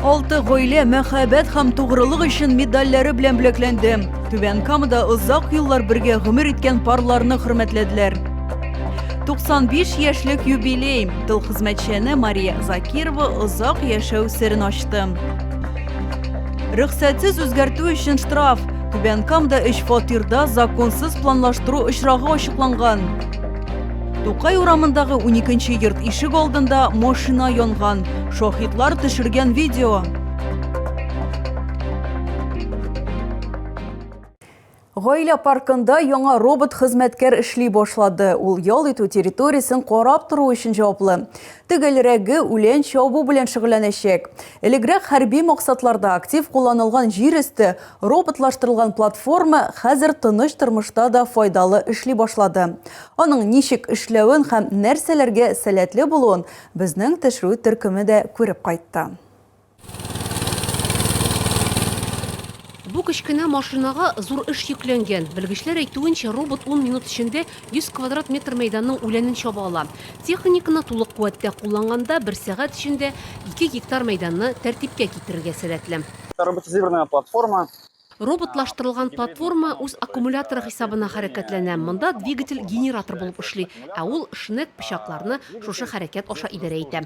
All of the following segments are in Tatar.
Алты гаилә мәхәббәт һәм тугрылык өчен медальләре белән бүләкләнде. Түбән Камада озак еллар бергә гомер иткән парларны хөрмәтләделәр. 95 яшьлек юбилей тыл хезмәтчәне Мария Закирова озак яшәү серен ачты. Рөхсәтсез үзгәртү өчен штраф Түбән Камда өч фатирда законсыз планлаштыру очрагы ачыкланган. Тукай урамындагы 12 йорт ишек алдында машина янган. Шахидлар төшергән видео. Гаилә паркында яңа робот хезмәткәр эшли башлады. Ул ял итү территориясен карап тору өчен җаваплы. Төгәлрәге үлән чабу белән шөгыльләнәчәк. Элегрәк хәрби максатларда актив кулланылган җир өсте роботлаштырылган платформа хәзер тыныч тормышта да файдалы эшли башлады. Аның ничек эшләвен һәм нәрсәләргә сәләтле булуын безнең төшерү төркеме дә күреп кайтты. Бу кечкенә машинага зур эш йөкләнгән. Белгечләр әйтүенчә, робот ун минут эчендә 100 квадрат метр мәйданның үләнен чаба ала. Техниканы тулы куәттә кулланганда, бер сәгать эчендә ике гектар мәйданны тәртипкә китерергә сәләтле. Роботизированная платформа. Роботлаштырылган платформа үз аккумуляторы хисабына хәрәкәтләнә. Монда двигатель генератор булып эшли, ә ул шнек пычакларны шушы хәрәкәт аша идарә итә.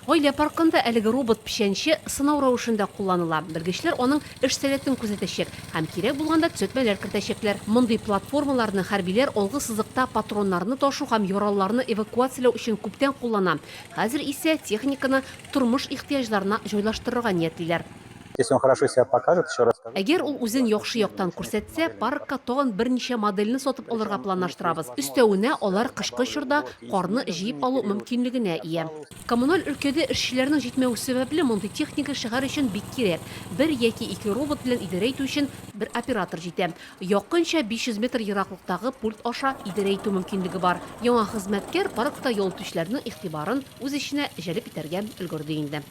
Гаилә паркында әлеге робот-печәнче сынау рәвешендә кулланыла. Белгечләр аның эш сәләтен күзәтәчәк һәм кирәк булганда төзәтмәләр кертәчәкләр. Мондый платформаларны хәрбиләр алгы сызыкта патроннарны ташу һәм яралыларны эвакуацияләү өчен күптән куллана, хәзер исә техниканы тормыш ихтыяҗларына җайлаштырырга ниятлиләр. Если он хорошо себя покажет, еще раз скажу. Әгәр ул үзен яхшы яктан күрсәтсә, паркка тагын берничә модельне сатып алырга планлаштырабыз. Өстәвенә, алар кышкы чорда карны җыеп алу мөмкинлегенә ия. Коммуналь өлкәдә эшчеләрнең җитмәве сәбәпле, мондый техника шәһәр өчен бик кирәк. Бер яки ике робот белән идарә итү өчен бер оператор җитә. Якынча 500 метр ераклыктагы пульт аша идарә итү мөмкинлеге бар. Яңа хезмәткәр паркта ял итүчеләрнең игътибарын үз эченә җәлеп итәргә өлгерде инде.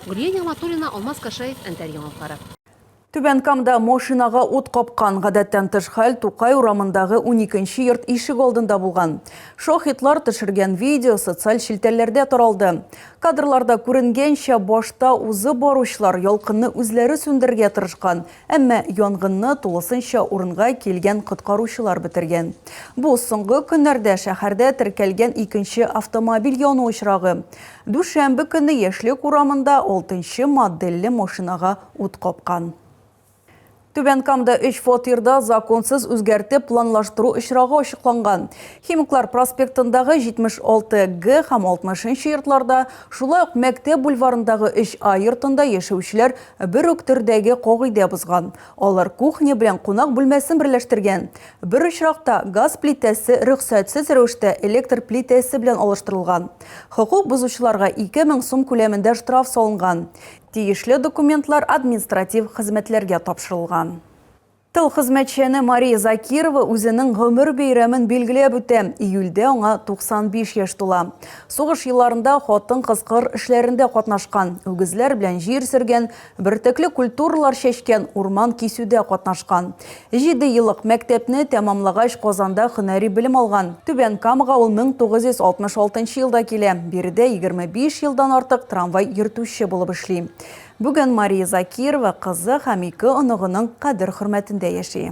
Гөлия Нигъматуллина, Алмаз Кашаев, Әнтәр яңалыклары. Түбән Камда машинага ут капкан гадәттән тыш хәл Тукай урамындагы уникенче йорт ишек алдында булган. Шаһитлар төшергән видео социаль челтәрләрдә таралды. Кадрларда күренгәнчә, башта узып баручылар ялкынны үзләре сүндерергә тырышкан, әмма янгынны тулысынча урынга килгән коткаручылар бетергән. Бу соңгы көннәрдә шәһәрдә теркәлгән икенче автомобиль яну очрагы. Дүшәмбе көнне Яшьлек урамында алтынчы модельле машинага ут капкан. Түбән Камда өч фатирда законсыз үзгәртеп планлаштыру очрагы ачыкланган. Химиклар проспектындагы 76Г һәм 60 нчы йортларда, шулай ук Мәктәп бульварындагы 3А йортында яшәүчеләр бер үк төрдәге кагыйдә бозган. Алар кухня белән кунак бүлмәсен берләштергән. Бер очракта газ плитәсе рөхсәтсез рәвештә электр плитәсе белән алыштырылган. Хокук бозучыларга 2000 сум күләмендә штраф салынган. Тиешле документлар административ хезмәтләргә тапшырылган. Тыл хезмәтчәне Мария Закирова үзенең гомер бәйрәмен билгеләп үтә. Июльдә аңа 95 яшь тула. Сугыш елларында хатын-кыз кыр эшләрендә катнашкан, үгезләр белән җир сөргән, Бөртекле культуралар чәчкән, урман кисүдә катнашкан. Җиде еллык мәктәпне тәмамлагач, Казанда һөнәри белем алган. Түбән Камага ул 1966 елда килә, биредә 25 елдан артык трамвай йөртүче булып эшли. Бүген Мария Закирова кызы һәм ике оныгының кадер-хөрмәтендә яши.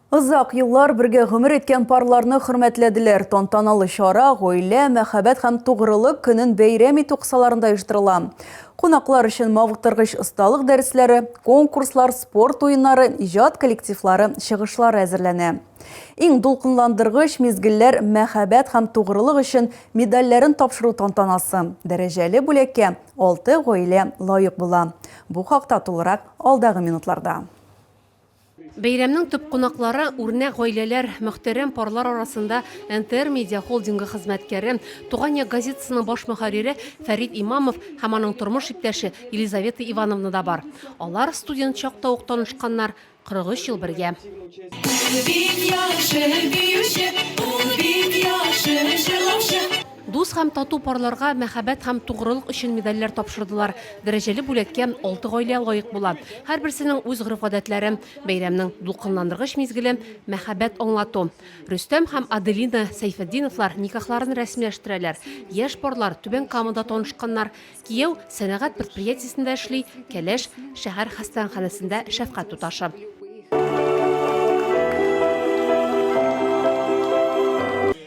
Озак еллар бергә гомер иткән парларны хөрмәтләделәр. Тантаналы чара гаилә, мәхәббәт һәм тугрылык көнен бәйрәм итү кысаларында оештырыла. Кунаклар өчен мавыктыргыч осталык дәресләре, конкурслар, спорт уеннары, иҗат коллективлары чыгышлары әзерләнә. Иң дулкынландыргыч мизгелләр мәхәббәт һәм тугрылык өчен медальләрен тапшыру тантанасы. Дәрәҗәле бүләккә алты гаилә лаек була. Бу хакта тулырак алдагы минутларда. Бәйрәмнең төп кунаклары, үрнәк гаиләләр, мөхтәрәм парлар арасында НТР Медиа холдингы хезмәткәре, Туган як газетасының баш мөхәррире Фәрит Имамов һәм аның тормыш иптәше Елизавета Ивановна да бар. Алар студент чакта ук танышканнар, 43 ел бергә. Ул бик яхшы биюче, ул бик яхшы җырлаучы. Дус һәм тату парларга мәхәббәт һәм тугрылык өчен медальләр тапшырдылар. Дәрәҗәле бүләккә алты гаилә лаек була. Һәрберсенең үз гореф-гадәтләре, бәйрәмнең дулкынландыргыч мизгеле, мәхәббәт аңлату. Рөстәм һәм Аделина Сәйфетдиновлар никахларын рәсмиләштерәләр. Яшь парлар Түбән Камада танышканнар. Кияү сәнәгать предприятиесендә эшли, Кәләш шәһәр хастаханәсендә шәфкать туташы.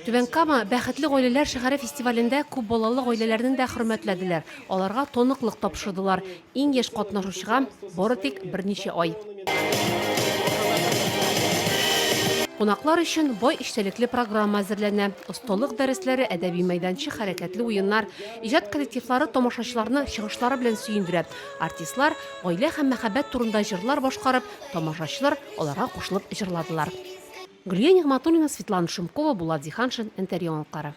Түбән Кама бәхетле гаиләләр шәһәре фестивалендә күп балалы гаиләләрне дә хөрмәтләделәр. Аларга тоныклык тапшырдылар. Иң яшь катнашучыга бары тик берничә ай. Кунаклар өчен бай эчтәлекле программа әзерләнә. Осталык дәресләре, әдәби мәйданчык, хәрәкәтле уеннар. Иҗат коллективлары тамашачыларны чыгышлары белән сөендерә. Артистлар гаилә һәм мәхәббәт турында җырлар башкарып, тамашачылар аларга кушылып җырладылар. Гөлия Нигъматуллина, Светлана Шумкова, Булат Зиһаншин, НТР яңалыклары.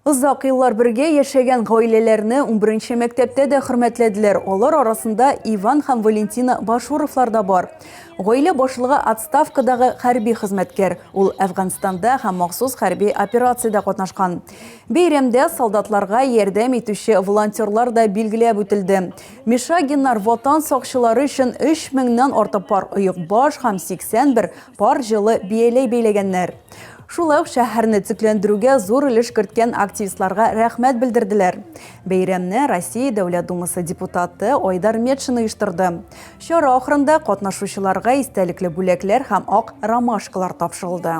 Озак еллар бергә яшәгән гаиләләрне унберенче мәктәптә дә хөрмәтләделәр. Алар арасында Иван һәм Валентина Башуровлар да бар. Гаилә башлыгы отставкадагы хәрби хезмәткәр. Ул Әфганстанда һәм махсус хәрби операциядә катнашкан. Бәйрәмдә солдатларга ярдәм итүче волонтерлар да билгеләп үтелде. Мишагиннар Ватан сакчылары өчен 3 меңнән артык пар оекбаш һәм 81 пар җылы бияләй бәйләгәннәр. Шулай ук шәһәрне төзекләндерүгә зур өлеш керткән активистларга рәхмәт белдерделәр. Бәйрәмне Россия Дәүләт Думасы депутаты Айдар Метшин оештырды. Чара ахырында катнашучыларга истәлекле бүләкләр һәм ак ромашкалар тапшырылды.